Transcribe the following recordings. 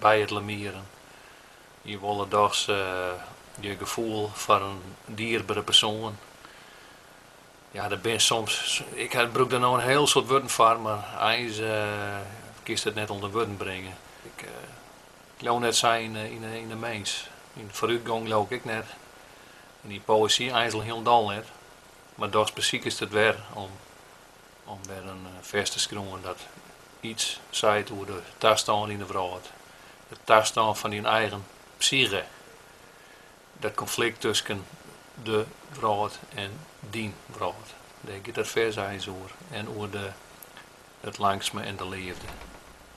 By it lemieren. Je wolle dochs je gefoel foar in dierbere persoan. Ja, der binne soms, ik brûk der no in hiel soad wurden foar, mar eins kinst it net ûnder wurden bringe. Ik leau net sa yn 'e mins. Yn de foarútgong leau ik ek net, en yn poëzy eins al hielendal net, mar dochs besikest it wer om Om wer in fers te skriuwen dat iets seit oer de tastân yn de wrâld. De tastân fan dyn eigen psyge. Dat konflikt tusken de wrâld en dyn wrâld. Dêr giet dat fers eins oer. En oer de it langsme en de leafde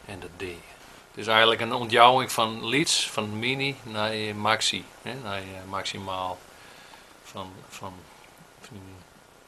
en de dea. It is eigenlik in ûntjouwing fan lyts, fan mini nei maxi, nei maksimaal, fan dyn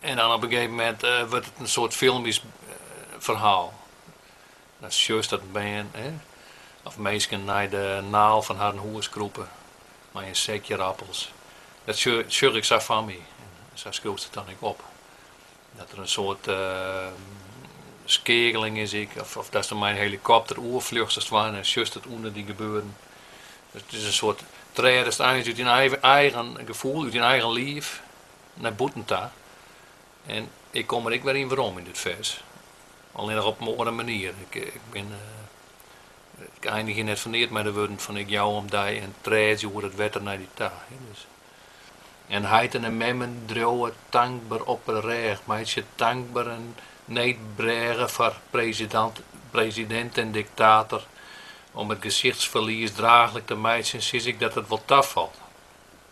En dan op in gegeven moment eh, wurdt it in soart filmysk ferhaal. Dat sjochst dat bern of minsken nei de naal fan harren hûs krûpe mei in sekje rappels. Dat sjoch ik sa foar my. En sa skriuwst it dan ek op. Dat der in soart skeakeling is ek, of, of datst der mei in helikopter oerfljochst as it ware en sjochst it ûnder dy gebeuren. Dus it is in soart, trêdest eins út dyn eigen gefoel, út dyn eigen liif. nei bûten ta. En ik kom der ek wer yn werom yn dit fers. Allinnich op in oare manier. Ik, eh, ik bin. eh, ik einigje hjir net foar neat mei de wurden fan ik jou om dy en trêdzje oer it wetter nei dy ta. Dus. En heiten en memmen driuwe tankber op 'e rêch, meitsje tankber in needbrêge foar presidant, president en diktator om it gesichtsferlies draachlik te meitsjen, sis ik dat it wol tafalt.